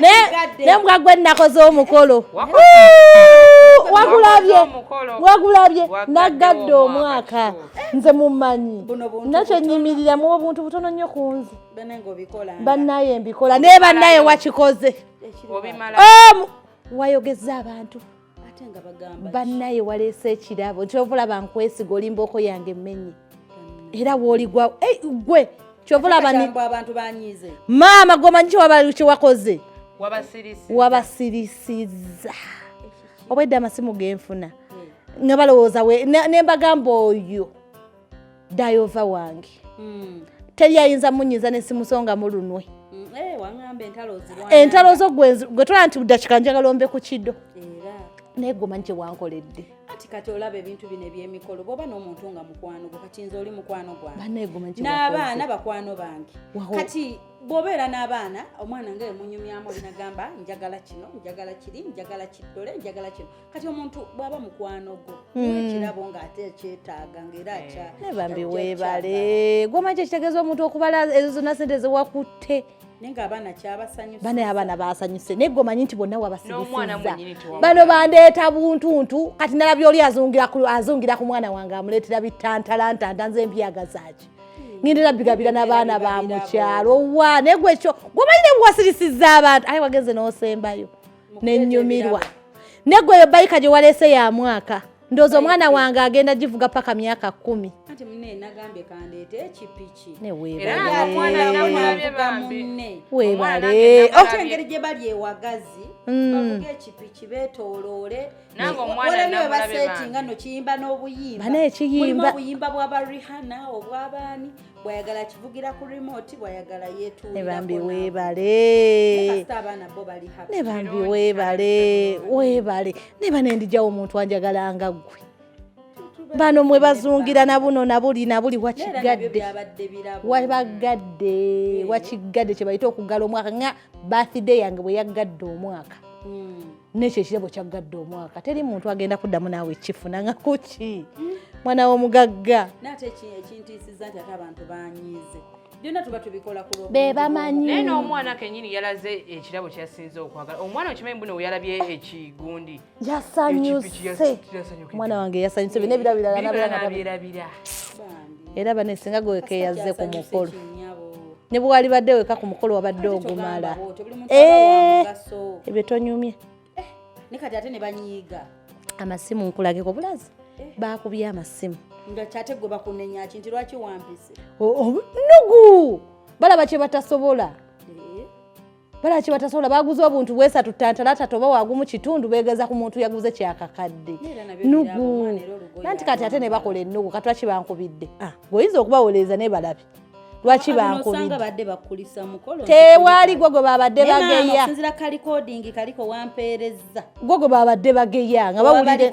naye mugagwe nakoze omukolo wagulabye wagulabye nagadde omwaka nze mumanyi nakyo nyimirira mu obuntu butono nnyo ku nze bannaye mbikola naye bannaye wakikoze wayogeza abantu bannaye waleese ekirabo kyova olaba nkwesiga olimbaoko yange emmenye era woligwa eh, gwe kyova olaba maama gwomanyi kyewakoze wabasirisiza obwedde amasimu genfuna nga balowooza nembagamba oyo dayova wange hmm. teri ayinza munyiza nesimusonga mulunwe hmm, eh, entalo zo gwe tola nti dakika njagala ombe ku kido naye gwe omanyi kyewankoledde kati kati olaba ebintu bino ebyemikolo bwoba n'omuntu nga mukwano gwe kati nze oli mukwano gwange n'abaana bakwano bange kati bwobeera n'abaana omwana nga emunyumyamu olinagamba njagala kino njagala kiri njagala kiddole njagala kino kati omuntu bwaba mukwano gwo hmm. ekirabo ng'ate ekyetaaga ng'era eh. akya ne bambi weebale gwomanyi kyekitegeeza omuntu okubala ezo zonna sente zewakutte bana abaana basanyuse naye gomanyi nti bonna wabasigisizza bano bandeeta buntuntu kati nalabya oli azungira ku mwana wange amuleetera bitantalantanta nze empyagazaki hmm. ngindera bigabira nabaana ba mukyalo wa naye gwekyo gomanyi nebwewasirisizza abantu aye wagenze nosembayo nenyumirwa negwe eyo bayika gye waleese ya mwaka ndoozi omwana wange agenda givuga paka myaka kumi webaleengeri gye bali ewagazi bavuga ekipiki betoloole basetinga no kiyimba n'obuyimba bana ekiyimba obuyimba bwaba rihana obwabaani bwayagala kivugira ku remote bwayagala yetuulebambi webale abaana bo bali ne bambi webale webale ne bane ndijawo omuntu anjagala nga ggwe bano mwe bazungira na buno na buli na buli wakigadde wabagadde wakigadde kye bayita okugala omwaka nga birthday yange bwe yaggadde omwaka hmm. nekyo ekirabo kyaggadde omwaka teri muntu agenda kuddamu naawe ekifuna nga kuki mwana womugagga nate ekintiisiza nti ate abantu banyiize byonna tuba tubikola ku be bamanyi naye n'omwana kenyini yalaze ekirabo kyasinze okwagala omwana okimanyi mbuno weyalabye ekigundi yasanyuse omwana wange yasanyuse bino ebirabo birala nabyerabira era bane singa gwekeyaze ku mukolo ne bwe walibadde weka ku mukolo wabadde ogumala eh, ebyo tonyumye eh, ne kati ate ne banyiiga amasimu nkulageko bulazi eh. baakubye amasimu nga kyate gwe bakunenya ki nti lwaki wampise nugu balaba kye batasobola bala kibatasobola baguze obuntu bwesatu tantalata toba wagumu kitundu begeza ku muntu yaguze kyakakadde nugu nanti kati ate nebakola enugu katwaki bankubidde ah, gweoyinza okubawoleeza nebalabi lwaki bankubidetewali gwe gwe babadde bageya gwe gwe babadde bageya nga bawulire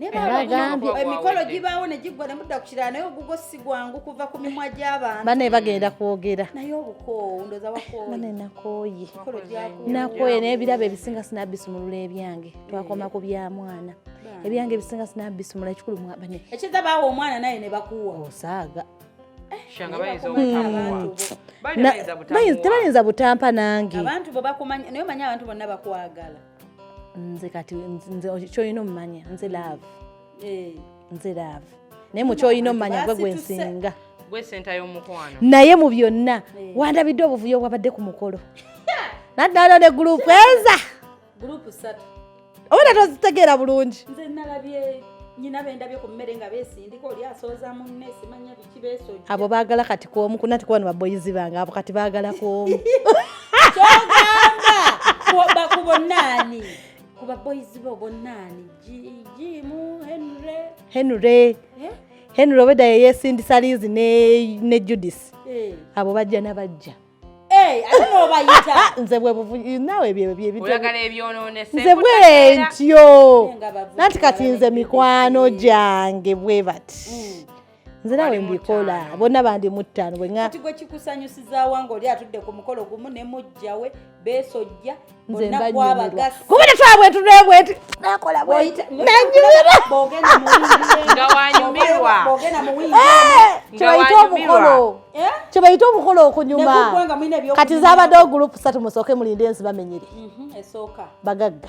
emikolo gibaawo ne giggwa ne mudda ku kirala naye ogugo si gwangu kuva ku mimwa gy'abantu bane bagenda kwogera naye obukoowu ndoza wakooyibane nakooye nakooye naye ebirabo ebisinga sinabisumulula ebyange twakoma ku bya mwana ebyange ebisinga sinabisumula ekikulu mwabane ekiza baawa omwana naye ne bakuwa osaaga tebayinza butampa nange abantu bo bakumanya naye omanyi abantu bonna bakwagala nze kati nze kyolina omumanya nze laavu eh. nze laavu naye mukyolina omumanya gwe gwensinga naye mu byonna eh. wandabidde obuvuyo obwabadde ku mukolo naddala ne gurupu eza obona tozitegeera bulungi abo bagala kati kwomu kunati kuba nibaboyizi bange abo kati bagala kwomu bakubonaani kuba boyizi bo bonaani jimu henry henry eh? henry obeda yeyesindisa liizi ne judis eh. abo bajja nabajja eh, nze bwebunawe nze bwentyo nanti kati nze mikwano gyange bwe bati mm. nze nawe mbikola bonna bandi muttaano bwekati gwe kikusanyusizawa nga oli atudde ku mukolo gumu ne mujjawe besojja kuba tetwabwe tunebweti nakola bwetnanyumirwakyebayita omukolo kyebayita omukolo okunyuma kati zabadde ogurupu satu musooke mulinde ensi bamenyere mhm, bagagga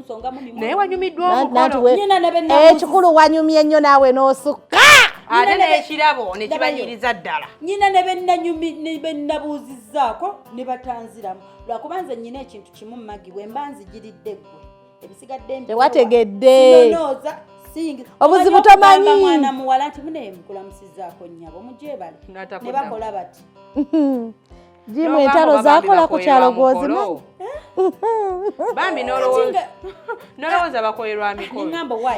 naye wanyumiddwa omukoloekikulu eh, wanyumye nnyo naawe n'osukka ate n'ekirabo ne kibanyiriza ddala nyina ne bennabuuzizzaako ne batanziramu lwakuba nze nyina ekintu kimu magi bwe mba nzigiridde ggwe ebisigadde tewategedde obuzibu tomanyi mwana muwala nti munaye mukulamusizaako nyabo mujebale ne bakola bati jimu entalo zakola ku kyalo gwozima bambi nolowooza bakolerwa mikolo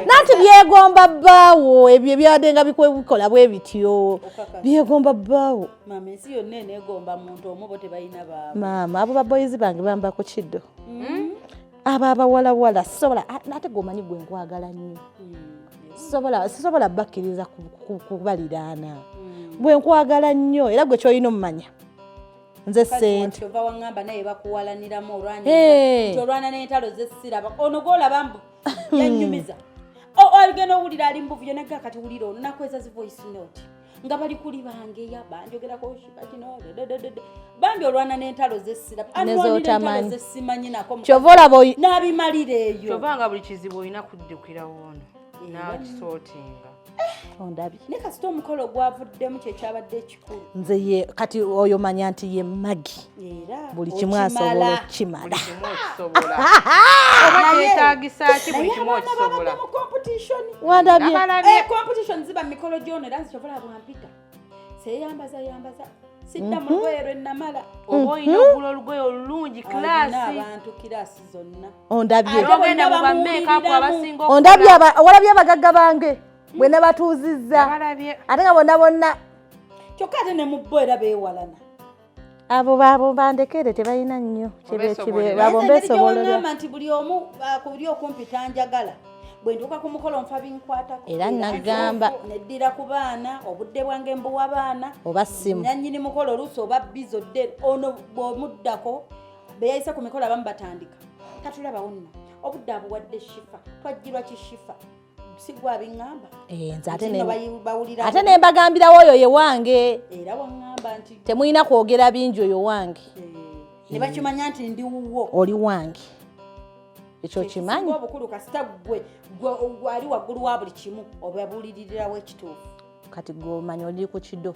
nanti byegomba bbaawo ebyo ebyadde nga bikola bwe bityo byegomba bbaawo maama abo baboyizi bange bamba ku kiddo mm. abo abawalawala sisobola ate gwomanyi gwe nkwagala nnyo hmm, sisobola bakkiriza kubaliraana hmm. gwe nkwagala nnyo era gwe kyolina omumanya nze sente hmm. ogenda owulira ali mubuvuyo naga kati wulira onakweza zi voice note nga bali kuli bangeya banjogerako shiba kino bambi olwana n'entalo zesiraanezotamaanyi kyova olaba n'abimalira eyo kyova nga buli kizibu olina kuddukira woono eh. nakisootinga eh. ondabye ne kasita omukolo gwavuddemu kyekyabadde ekikulu nze ye kati oyo manya nti ye magi buli kimu asobola okukimala siddamu mhm. lugoye lwe namala mhm. oba olina okugula olugoye olulungi kilaasiabantu kilaasi zonna ondabyogenda mu bameekapu abasinga ondabye walabye abagagga bange mm. bwe nabatuuzizza ate nga bonna bonna kyokka ate ne mu bo era beewalana abo babo bandekere tebalina nnyo kibekibeabo mbesobololagamba nti buli omu uh, kuli okumpi tanjagala bwentuuka ku mukolo nfa binkwatako era nagamba neddira ku baana obudde bwange mbuwa baana oba simu nanyini mukolo oluusi oba bizo dde ono bwomuddako beyayise ku mikolo abamu batandika tatulabawo nno obudde abuwadde shifa twajjirwa kishifa sigwa bingamba eh nze ate ne bawulira ate ne mbagambira woyo ye wange era wangamba nti temuyina kwogera binjo yo wange eh, ne bakimanya nti ndi wuwo oli wange ekyo kimanyi obukulu kasita gwe gwe ali waggulu wa buli kimu obabulirira wekituufu kati gwe omanyi oli ku kido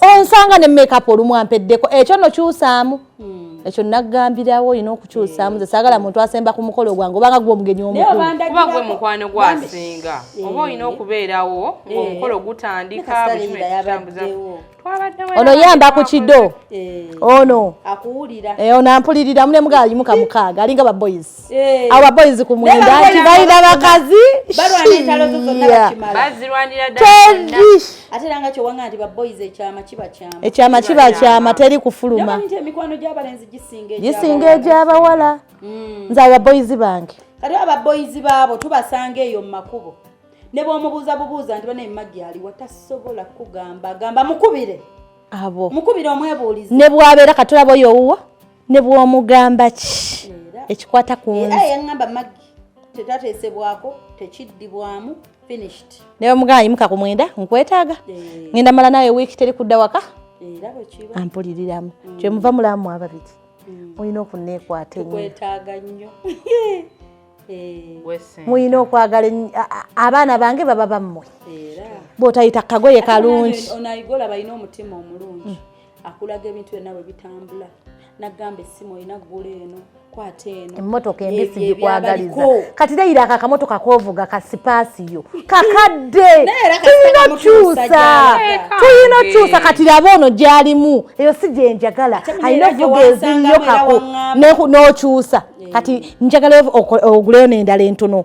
onsanga ne makeup olumu ampeddeko ekyo no kyusaamu hmm. ekyo nagambirawo olina okukyusaamu ze saagala muntu asemba ku mukolo gwange obanga gwe omugenyi omukuba gwe mukwano gwasinga eh. oba olina okubeerawo eh. ngaomukolo gutandika ono yamba ku kido eh. ono ono ampuliriramu ne mugaalimu kamukaaga alinga baboyizi Eh. abo baboyizi ku mwenda nti balina bakazi ekyama kiba kyama teri kufuluma gisinga egyabawala hmm. nze ababoyizi bange kati ababoyizi baabo tubasanga eyo mu makubo ne bwomubuuza bubuuza nti bana emagi aliwa tasobola kugamba gamba mukubire abo mukubire omwebuulizi ne bwabeera katulaba oyo owuwa ne bw'omugamba ki ekikwata ku nze era yaŋŋamba maggi tetateesebwako tekiddibwamu finished naye omugana yimuka ku mwenda nkwetaaga eh. ngenda mala nawe wiiki teri kudda waka eh, ampuliriramu mm. kyemuva mulamu ababiri mm. mulina okunneekwata enyokwetaaga nnyo eh. mulina okwagala abaana bange baba bammwe bwotayita kagoye kalungi onayigola balina omutima omulungi mm. akulaga ebintu byonna bwe bitambula nagamba essimu olina ggula eno kwata eno emmotoka embisi gikwagaliza kati reyira ako akamotoka kovuga kasipaasiyo kakadde tulina okyusa tulina okyusa kati laba ono gyalimu eyo si gyenjagala alina ovuga eziyo kako n'okyusa kati njagala oguleyo nendala entono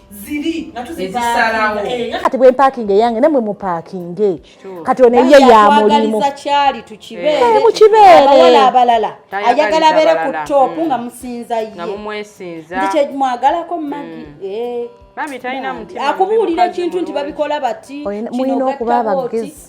ziri nga tuzisalawo eh, kati bwe mpakinga eyange namwe mupakinge kati ono eyiye ya mulimu kyali tukibeere eh, mukibeere abalala ayagala abeere ku top nga mm. musinza ye nga mumwesinza nti kyemwagalako magi mm. eh. akubuulira ekintu nti babikola bati mulina okuba abagezi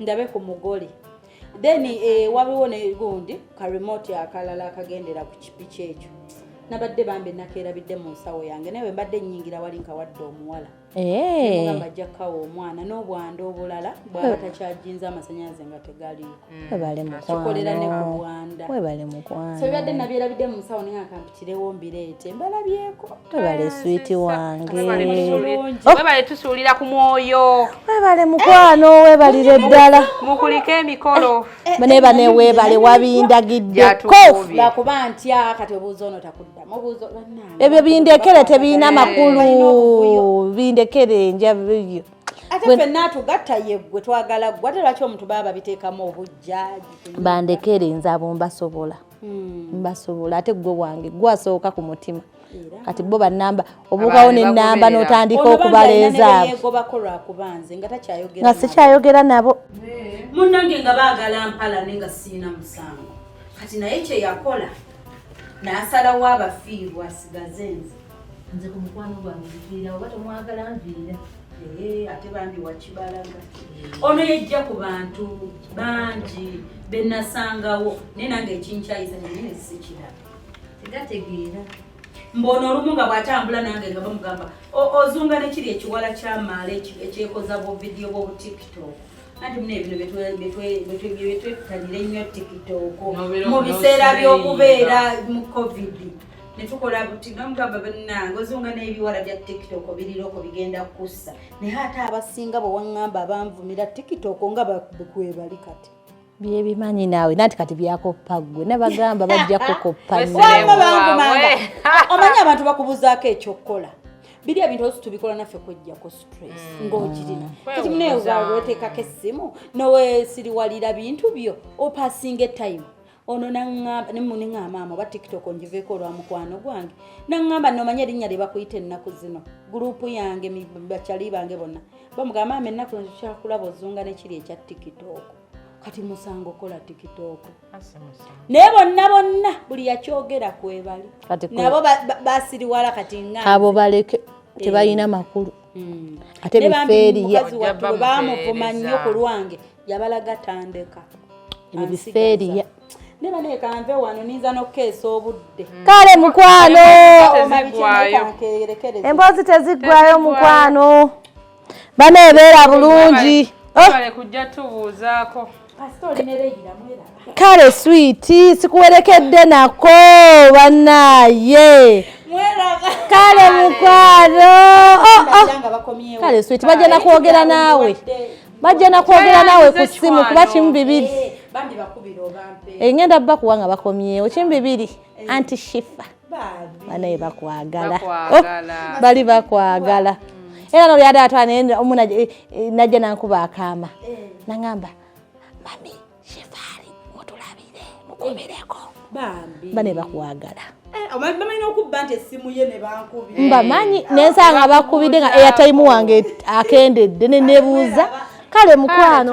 ndabe ku mugole then eh, wabiwo negundi ka remote akalala akagendera ku kipiki ekyo nabadde bambi nakerabidde mu nsawo yange naye wembadde nyingira wali nkawadde omuwala mugamba ajja kukawa omwana n'obwanda obulala bwaba takyajinza amasanyaze nga tegaliikokikolera mm. ne ku bwanda so bibadde nabyerabidde mu nsawo naye akantu kirewo mbireete mbalabyeko webale switi wange webale tusuulira ku mwoyo webale mukwano eh, webalire ddala mukulika emikolo eh, eh, neba newebale wabindagiddekolakuba ntya kati obuuza ono takuddamu obuuza ebyo bindekere tebirina makulu bindekere njabyo ate fenna atugatta yeggwe twagala ggwe ate lwaki omuntu baba babiteekamu obujja bandekere nze abombasobola hmm. basobola ate gwe wange gwasooka ku mutima kati bo banamba obuukawo nenamba notandika okubaleezaabonga sikyayogera nabo munange nga bagala mpala ne nga siina musango kati naye kyeyakola nasalawo abafiirwa sigaze nze nze ku mukwano gwange nviira oba tomwagala nviira eh, ate bambi wakibalaga eh. ono yejja ku bantu bangi benasangawo naye nange ekinkyayisa nenene sikiraba tegategeera mbono olumu nga bwatambula nange nga bamugamba ozunga nekiri ekiwala kyamaala ekyekoza buvidiyo bwobutikito anti muna ebino byetwetanira ennyo tikitoko mu biseera by'okubeera mu covid ne tukola buti nga mugamba bannange ozunga n'ebiwala bya tiktok biriroko bigenda kussa naye ate abasinga bwe waŋŋamba abanvumira tiktok nga bakwebali kati byebimanyi naawe nanti kati byakoppa ggwe nabagamba bajja kukoppa omanyi abantu bakubuzaako ekyokukola biri ebintu osi tubikola naffe kwejjako stress mm. ng'okirina mm. kati muneewaawo oteekako essimu nowesiriwalira bintu byo opasinga etayimu ono naŋŋamba ne mune ŋŋamba amo oba tiktok ngiveeko olwa mukwano gwange naŋŋamba nomanya erinnya lye bakuyita ennaku zino guruupu yange bacali bange bonna bamugamba maama ennaku zino tukyakulaba ozunga nekiri ekya tiktok kati musango kola tiktok naye bonna bonna buli yakyogera kwebali nabo basiriwala kati nga abo baleke eh. tebalina makulu hmm. ate bifeeriya bamuvuma nnyo ku lwange yabalaga tandeka ebiseriya neba naye kanve wano ninza n'okukeesa obudde mm. kale mukwano emboozi teziggwayo mukwano bana ebeera bulungi oh. kale switi sikuwerekedde nako banaye kale mukwano oh, oh. kale switi bajja nakwogera naawe bajja nakwogera naawe ku ssimu kuba kimu bibiri engenda eh, eh, bakuwa nga bakomyewo kimu bibiri eh. anti shifa banaye bakwagala oh, bali bakwagala mm. era nolyada atwanaye omu najja nankuba akaama nangamba mami Shefali mutulabire mukumireko bambi bane bakwagala eh, bamanyi nokubba nti essimu ye nebankubi mbamanyi eh, nensanga bakubidde nga airtime wange akendedde nenebuuza kale mukwano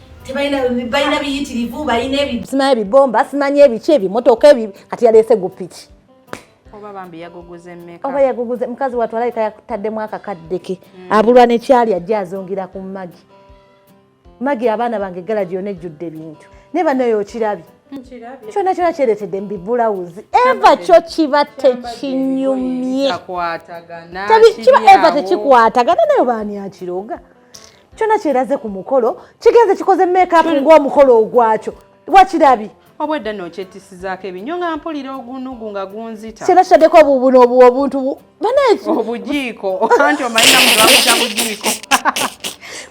balina biyitirivu balina simanyi ebibomba simanyi ebiki ebimotoka ebi kati yaleese gupiki oba yaguguze mukazi watu alabika yakutaddemu akakaddeke mm. abulwa nekyali ajja azungira ku magi magi abaana bange gala gyona ejjudde bintu naye banayo okirabye kyona kyona kyeretedde mubibulawuzi eva kyo kiba tekinyumye kiba eva tekikwatagana nayo baani akiroga kyona kyeraze ku mukolo kigenze kikoze makeup ng'omukolo ogwakyo wakirabye obwedda nokyetisizako ebinyo nga mpulira ogunugu nga gunzita kyona kitaddeko obubuno obuntu obujiiko anti omanyina mulakuta bujiiko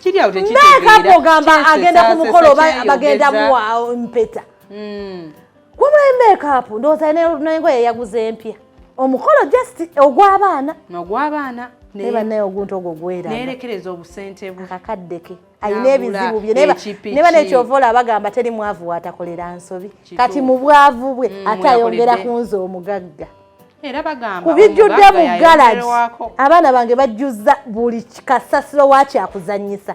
kiryaotekitegeera ogamba agenda ku mukolo bagenda muwa mpeta hmm. wabula emekaapu ndowooza nengoye yaguza empya omukolo just ogw'abaana nogw'abaana naye banaye oguntu ogwo gwera nerekereza obusente bwe akakadde ke alina ebizibu bye ne bana ekyova olaba agamba teri mwavu watakolera nsobi kati mu bwavu bwe mm, ate ayongera ku nze omugagga ku bijjudde mu galagi abaana bange bajjuzza buli kasasiro wakyakuzanyisa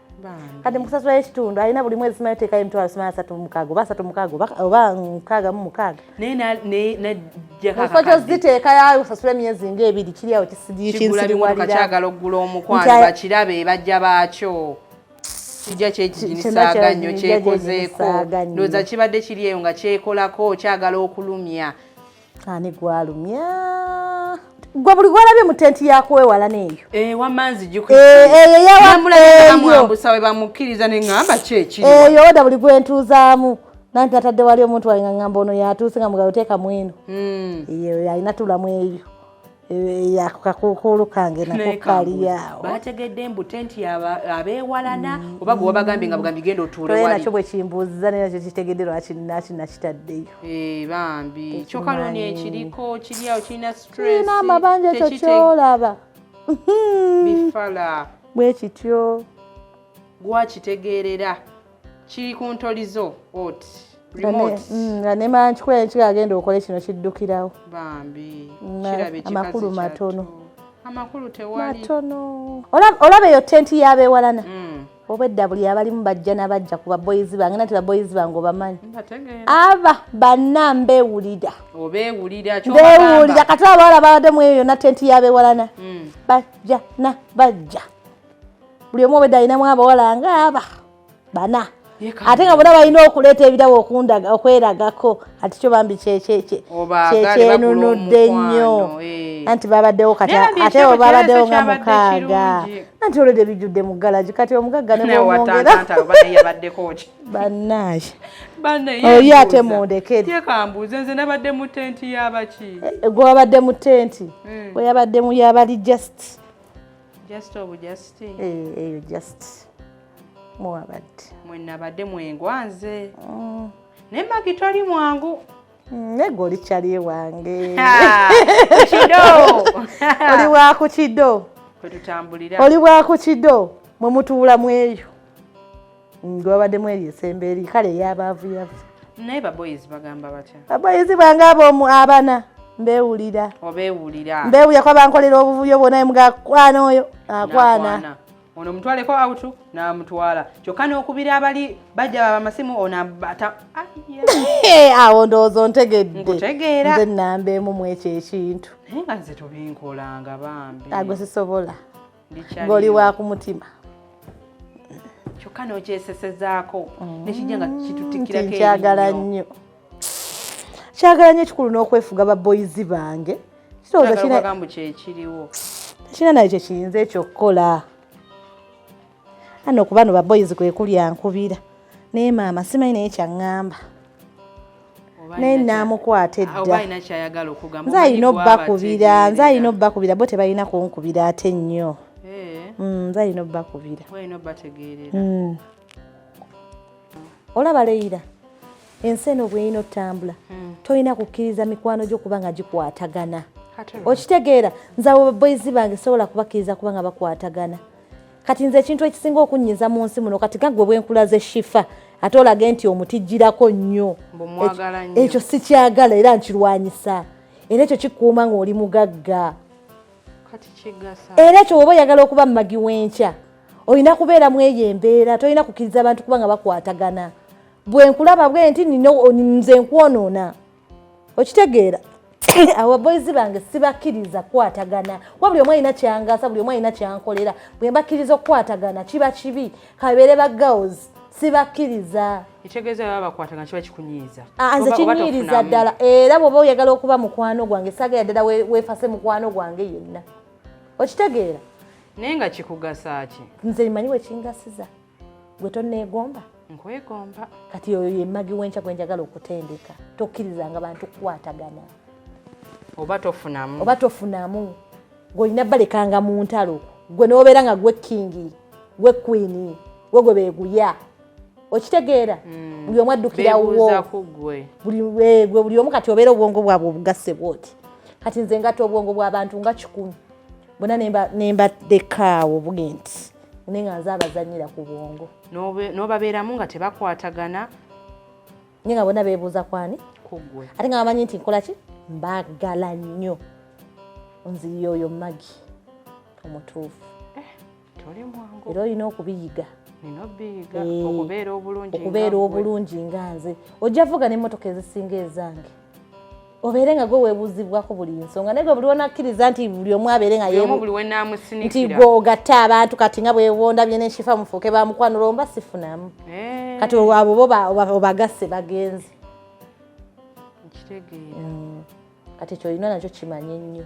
kati mukusasula ekitundu alina buli mwezi simanyi teekayo emitwalo simanyi asatu mumukaaga oba asatu mukaaga oba mukaaga mu mukaaga mukifo ziteekayo osasula emyezi nga ebiri kiri awo kisiriwalirakyagala okugula omukwano bakirabe bajja baakyo kijja kyekiginisaaga nnyo kyekozeeko ndowooza kibadde kiri eyo nga kyekolako kyagala okulumya ani gwalumya gwe buli gwalabye mu tenti yakuwewala neeyo eyo oda buli gwentuuzaamu nanti natadde wali omuntu walinga ngamba ono yatuuse nga mugalo teeka mweno hmm. eyo alina tulamu eyo Eh, yakakukuulu kange nako kaliyaawo bategedde mbu tenti abeewalana mm. oba gwe wabagambye nga bugambi genda otuule nakyo bwe kimbuuziza naye nakyo kitegedde lwaki naki nakitaddeyo eh, bambi kyoka loni ekiriko kiriawo kirina strina amabanja ekyo kyolaba bifala bwe kityo gwakitegeerera kiri ku ntoli zo ot mm, nga nemala nkikola nekika agenda okole kino kiddukirawo bambi amakulu matono amakulu tewali matono olaba eyo tenti yabewalana mm. obwedda buli abalimu bajja nabajja ku baboyizi bange nati baboyizi bange obamanyi aba banna mbewulira mbewulira kati abawala babadde mu eyo yonna tenti yabewalana mm. bajja nabajja buli omu obedde alinamu abawala nga aba bana ate nga bona balina okuleeta ebirabo okundaga okweragako ati kyo bambi kyenunudde nnyo eh. anti babaddewo kati ate o babaddewo nga mukaaga anti olwedde bijjudde mu galagi kati omugagga nemwongera bannaaye oli ate mundekerekambuuze nze nabadde mu tenti yabaki eh, gwewabadde mu tenti hmm. weyabadde mu yabali just just obu just eh eyo just mwabadde mwenabadde mwengwanze mm. naye magi toli mwangu nego olikyali ewange kido oli waku kido oli waku kido mwe mutuula mweyo ngwabaddemu eri esembe eri kale eyabaavu yavu naye baboyizi bagamba batya baboyizi bange abomu abana mbewulira obewulira mbewulira kuba bankolera obuvuyo bwona mugakwana oyo akwana ono mutwaleko autu namutwala kyokka n'okubira abali bajja bamasimu ono abata awo ndowooza ontegedde nkutegeera nze namba emu mwekyo ekintu naye nga nze tubinkolanga bambi agwe sisobola ng'oli wa ku mutima kyokka n'okyesesezaako mm. nekijja nga kitutikirako nkyagala nnyo kyagala nnyo ekikulu n'okwefuga baboyizi bange kirowoozagambo kyekiriwo tekirina naye kyekiyinza ekyo okukola ano kuba no baboyizi kwe kuli ankubira naye maama simanyi naye kyaŋŋamba naye namukwata eddanze alina obbakubira nze alina obbakubira bo tebalina kunkubira ate nnyo eh. mm, nze alina obbakubira mm. olaba leyira ensi eno bweyina otambula mm. tolina kukkiriza mikwano gyo kuba nga gikwatagana okitegeera nze abo baboyizi bange sobola kubakkiriza kuba nga bakwatagana kati nze ekintu ekisinga okunnyiza mu nsi muno kati gagwe bwenkulaze shifa ate olage nti omutijjirako nnyo ekyo sikyagala era nkirwanyisa era ekyo kikuuma ng'oli mugagga era ekyo woba oyagala okuba mumagi w'enkya olina kubeera mu eyo embeera tolina kukkiriza abantu kuba nga bakwatagana bwenkulaba bwe nti nze nkwonoona okitegeera awo boys bange sibakkiriza kukwatagana kuba buli omu alina kyangasa buli omu alina kyankolera bwe mbakkiriza okukwatagana kiba kibi kabeere ba girls sibakkiriza ekitegeeza baba bakwatagana kiba kikunyiiza ah, nze kinyiiriza ddala era bwoba oyagala okuba mukwano gwange sagala ddala wefase mukwano gwange yenna okitegeera naye nga kikugasa ki nze manyi wekingasiza gwe tonneegomba nkwegomba kati oyo yemagi wenkya gwe njagala okutendeka tokkirizanga bantu kukwatagana oba tofunamu oba tofunamu gweolina balekanga mu ntalo gwe nobeera nga gwe kingi gwe kwini gwe gwe beguya okitegeera hmm. buli omu addukirawo eh, buli omu kati obeera obwongo bwabwe obugasse bwoti kati nze ngata obwongo bwabantu nga kikumi bona nemba deka awo buge nti naye nga nze abazanyira ku bwongo n'obabeeramu nga tebakwatagana naye nga bona beebuuza kwani kuggwe ate nga bamanyi nti nkola ki mbagala nnyo nziyo oyo magi omutuufu eh, era olina okubiyiga eh, okubeera obulungi nga nze ojja vuga n'emmotoka ezisinga ezange obeere nga gwe webuuzibwako buli nsonga naye gwe buli wonakkiriza nti buli omu abeere nga nti gwe ogatte abantu kati nga bwewonda byena enshifa mufuuke bamukwanula omba sifunamu eh. kati abo bo obagasse bagenzi mm. kati ekyo olina nakyo kimanye nnyo